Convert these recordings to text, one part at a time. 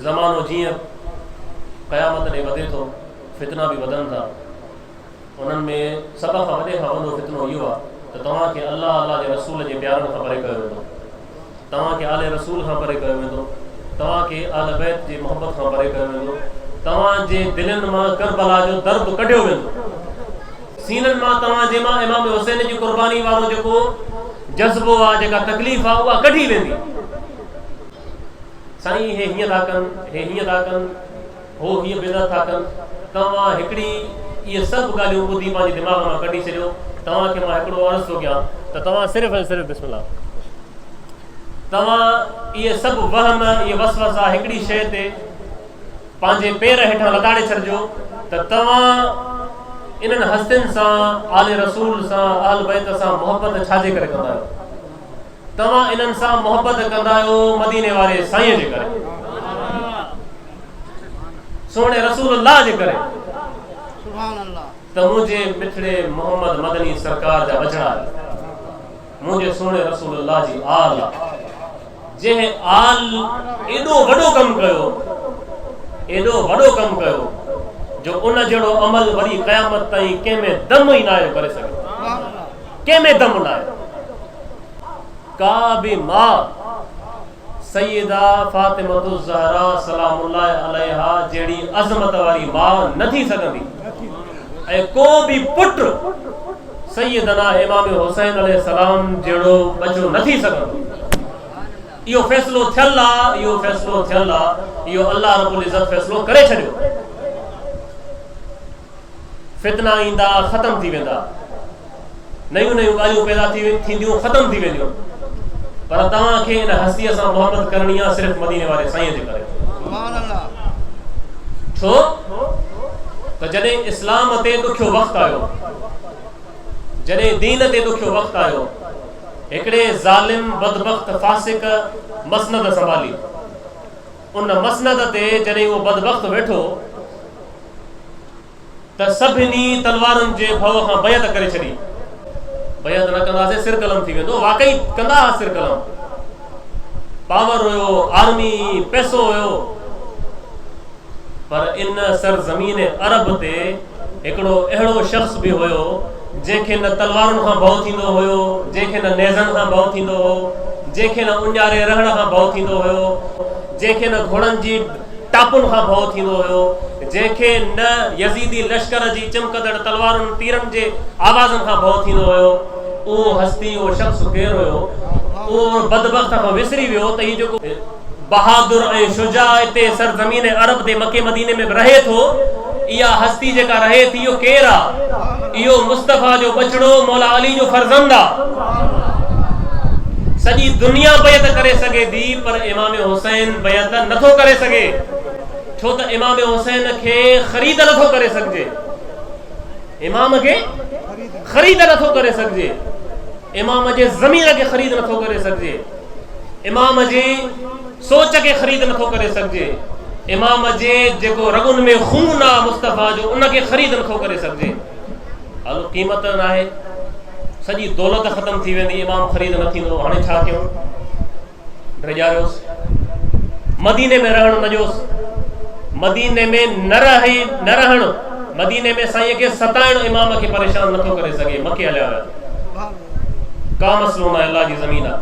زمانو جيئن قيامت ڏي وڌي ٿو، فتنا به وڌن ٿا. انهن ۾ سڀ کان وڏي کان وڏو فتنو اهو آهي ته توهان کي الله، الله جي رسول جي پيارن کان پري ڪيو ويندو. توهان کي آل رسول کان پري ڪيو ويندو. توهان کي اهل بيت جي محبت کان پري ڪيو ويندو. توهان جي دلين مان ڪربلا جو درد ڪڍيو ويندو. سينن مان توهان جي مان امام حسين جي قرباني وارو جيڪو جذبو آهي، جيڪا تڪليف آهي، اها ڪڍي ويندي. سائين هي هيئن ٿا ڪن، هي هيئن ٿا ڪن، هو هيء بدعت ٿا ڪن، توهان هڪڙي اهي سڀ ڳالهيون ٻڌي پنهنجي دماغ مان ڪڍي ڇڏيو، توهان کي مان هڪڙو عرض ٿو ڪيان ته توهان صرف ۽ صرف بسم الله توهان اهي سڀ وهم اهي وسوسا هڪڙي شيء تي پنهنجي پير هيٺان لتاڙي ڇڏجو ته توهان انهن هستين سان آل رسول سان اهل بيت سان محبت ڇاجي ڪري ڪندا آهيو؟ توهان انهن سان محبت ڪندا آهيو مديني واري سائين جي ڪري سهڻي رسول الله جي ڪري ته منهنجي مٺڙي محمد مدني سرڪار جا وجهڙا منهنجي سهڻي رسول الله جي آل جنهن آل ايڏو وڏو ڪم ڪيو ايڏو وڏو ڪم ڪيو جو ان جهڙو عمل وري قيامت تائين ڪنهن ۾ دم ئي ناهي ڪري سگهي ڪنهن ۾ دم نه آيو. ڪا به ماء سيده فاطمة الزهراء سلام الله عليها جهڙي عظمت واري ماء نه ٿي سگهندي ۽ ڪو به پٽ سيدنا امام حسين عليه السلام جهڙو ٻچو نه ٿي سگهندو. اهو فيصلو ٿيل آ، اهو فيصلو ٿيل آ، اهو الله رب العزت فيصلو ڪري ڇڏيو. فتنا ايندا ختم ٿي ويندا، نيون نيون ڳالهيون پيدا ٿينديون ختم ٿي وينديون پر توهان کي ان هستيء سان محبت ڪرڻي آ صرف مديني واري سائين جي ڪري. ڇو ته جڏهن اسلام تي ڏکيو وقت آيو، جڏهن دين تي ڏکيو وقت آيو، هڪڙي ظالم، بدبخت، فاسق مسند سنڀالي. ان مسند تي جڏهن اهو بدبخت ويٺو ته سڀني تلوارن جي ڀؤ کان بيعت ڪري ڇڏي. بيعت نه ڪنداسين سر قلم ٿي ويندو. واقعي ڪندا ها سر قلم. پاور هيو، آرمي، پئسو هيو. پر ان سرزمين عرب تي هڪڙو اهڙو شخص به هيو، جنهن کي نه تلوارن کان ڀؤ ٿيندو هيو، جنهن کي نه نيزن کان ڀؤ ٿيندو هو، جنهن کي نه اونجهاري رهڻ کان ڀؤ ٿيندو هيو، جنهن کي نه گهوڙن جي ٽاپن کان ڀؤ ٿيندو هيو، جنهن کي نه يزيدي لشڪر جي چمڪندڙ تلوارن تيرن جي آوازن کان ڀؤ ٿيندو هيو. اهو هستي، اهو شخص ڪير هيو؟ اهو ان بدبخت کان وسري ويو ته هي جيڪو. بهادر ۽ شجاع اتي سرزمين عرب تي مڪي مديني ۾ به رهي ٿو. اها هستي جيڪا رهي ٿي اهو ڪير آ؟ اهو مصطفيٰ جو ٻچڙو مولا علي جو فرزند آ. سڄي دنيا بيعت ڪري سگهي ٿي پر امام حسين بيعت نه ٿو ڪري سگهي ڇو ته امام حسين کي خريد نه ٿو ڪري سگهجي. امام کي خريد نه ٿو ڪري سگهجي. امام جي ضمير کي خريد نه ٿو ڪري سگهجي. امام جي سوچ کي خريد نٿو ڪري سگهجي، امام جي جيڪو رڳن ۾ خون آ مصطفيٰ جو ان کي خريد نٿو ڪري سگهجي. هلو قيمت ناهي، سڄي دولت ختم ٿي ويندي امام خريد نه ٿيندو، هاڻي ڇا ڪيون؟ ڊيڄاريوس مديني ۾ رهڻ نه ڏيوس، مديني ۾ نه رهي نه رهڻ، مديني ۾ سائين کي ستائڻ امام کي پريشان نٿو ڪري سگهي، مڪي هليا ويا. ڪا مسئلو ناهي الله جي زمين آ.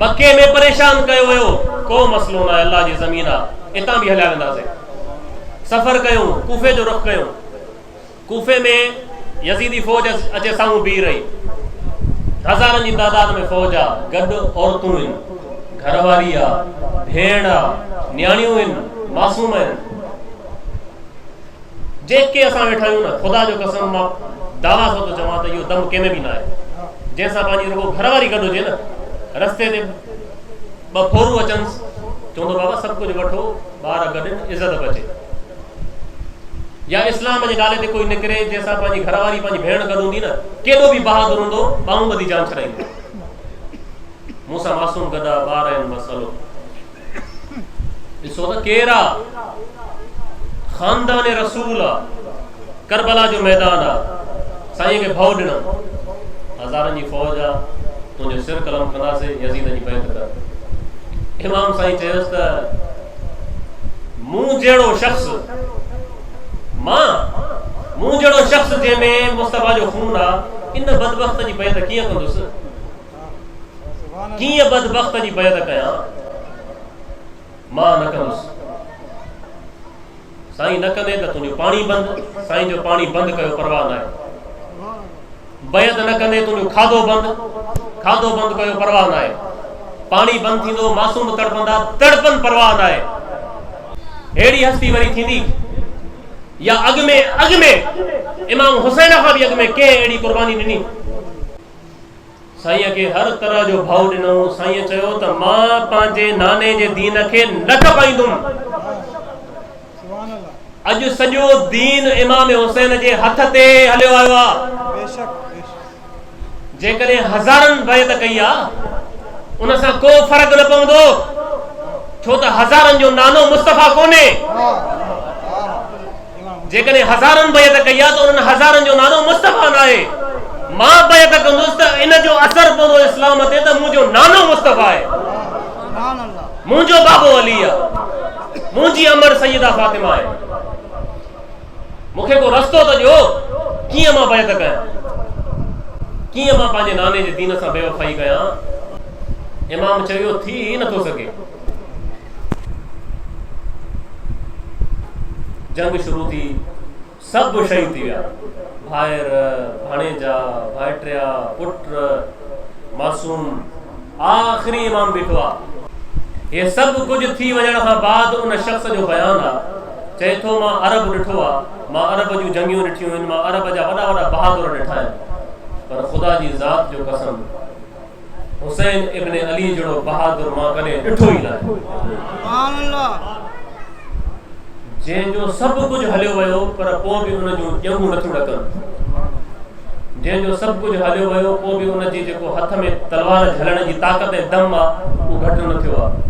مڪي ۾ پريشان ڪيو ويو ڪو مسئلو ناهي الله جي زمين آ اتان به هليا وينداسين سفر ڪيون ڪوفي جو رخ ڪيون ڪوفي ۾ يزيدي فوج اچي سامهون بيهي رهي هزارن جي تعداد ۾ فوج آ گڏ عورتون ان گهر واري آ ڀيڻ آ نياڻيون ان معصوم ان جيڪي اسان ويٺا آهيون نه، خدا جو قسم مان دعويٰ سان ٿو چوان ته اهو دم ڪنهن ۾ به ناهي، جنهن سان پنهنجي رڳو گهر واري گڏ هجي نه، رستي تي ٻه ڦورون اچنس، چوندو بابا سڀ ڪجهه وٺو، ٻار گڏين، عزت به اچي. يا اسلام جي نالي تي ڪوئي نڪري، جنهن سان پنهنجي گهر واري، پنهنجي ڀيڻ گڏ هوندي نه، ڪيڏو به بهادر هوندو، ٻانهون ٻڌي جان ڇڏائيندو. مون سان معصوم گڏا ٻار آهن، بس هلو. ڏسو ته ڪير آ خاندان رسول آ ڪربلا جو ميدان آ سائين کي ڀؤ ڏنم هزارن جي فوج آ تنهنجو سر قلم ڪنداسي يزيد جي بيعت ڪر امام سائين چيس ته مون جهڙو شخص مان مون جهڙو شخص جنهن ۾ مصطفيٰ جو خون آ ان بدبخت جي بيعت ڪيئن ڪندس ڪيئن بدبخت جي بيعت ڪيان؟ مان نه ڪندس. سائين نه ڪندين ته تنهنجو پاڻي بند. سائين جو پاڻي بند ڪيو پرواهه ناهي. بيعت نه ڪندين تنهنجو کاڌو بند. کاڌو بند ڪيو پرواهه ناهي. پاڻي بند ٿيندو، معصوم تڙپندا، تڙپن پرواهه ناهي. ههڙي هستي وري ٿيندي يا اڳ ۾ اڳ ۾ امام حسين کان به اڳ ۾ ڪنهن اهڙي قرباني ڏني؟ سائينء کي هر طرح جو ڀائو ڏنائون. سائينء چيو ته مان پنهنجي ناني جي دين کي نه ٺپائيندم. اڄ سڄو دين امام حسين جي هٿ تي هليو آيو آ. جيڪڏهن هزارن بيعت ڪئي آ، ان سان ڪو فرق نه پوندو، ڇو ته هزارن جو نانو مصطفيٰ ڪونهي. جيڪڏهن هزارن بيعت ڪئي آهي ته انهن هزارن جو نالو مصطفيٰ ناهي. مان بيعت ڪندس ته ان جو اثر پوندو اسلام تي ته منهنجو نانو مصطفيٰ آهي. منهنجو بابو علي آهي. منهنجي امڙ سيده فاطمه آهي. مون کي ڪو رستو ته ڏيو ڪيئن مان بيعت ڪيان. ڪيئن مان پنهنجي ناني جي دين سان بيوفائي ڪيان. امام چيو ٿي ئي نٿو سگهي. جنگ شروع ٿي، سڀ شهيد ٿي ويا، ڀائر، ڀاڻيجا، ڀائٽيا، پٽ، معصوم، آخري امام بيٺو آ. هي سڀ ڪجهه ٿي وڃڻ کان بعد ان شخص جو بيان آ، چئي ٿو مان عرب ڏٺو آ، مان عرب جون جنگيون ڏٺيون هن، مان عرب جا وڏا وڏا بهادر ڏٺا آهن، پر خدا جي ذات جو قسم! حسين ابن علي جھڙو بهادر مان ڪڏهن ڏٺو ئي ناهي. جنهن جو سڀ ڪجهه هليو ويو پر پوء به ان جون ڄنگهون نٿيون ڏڪن. جنهن جو سڀ ڪجهه هليو ويو پوء به ان جي جيڪو هٿ ۾ تلوار جهلڻ جي طاقت ۽ دم آ اهو گهٽ نه ٿيو آ.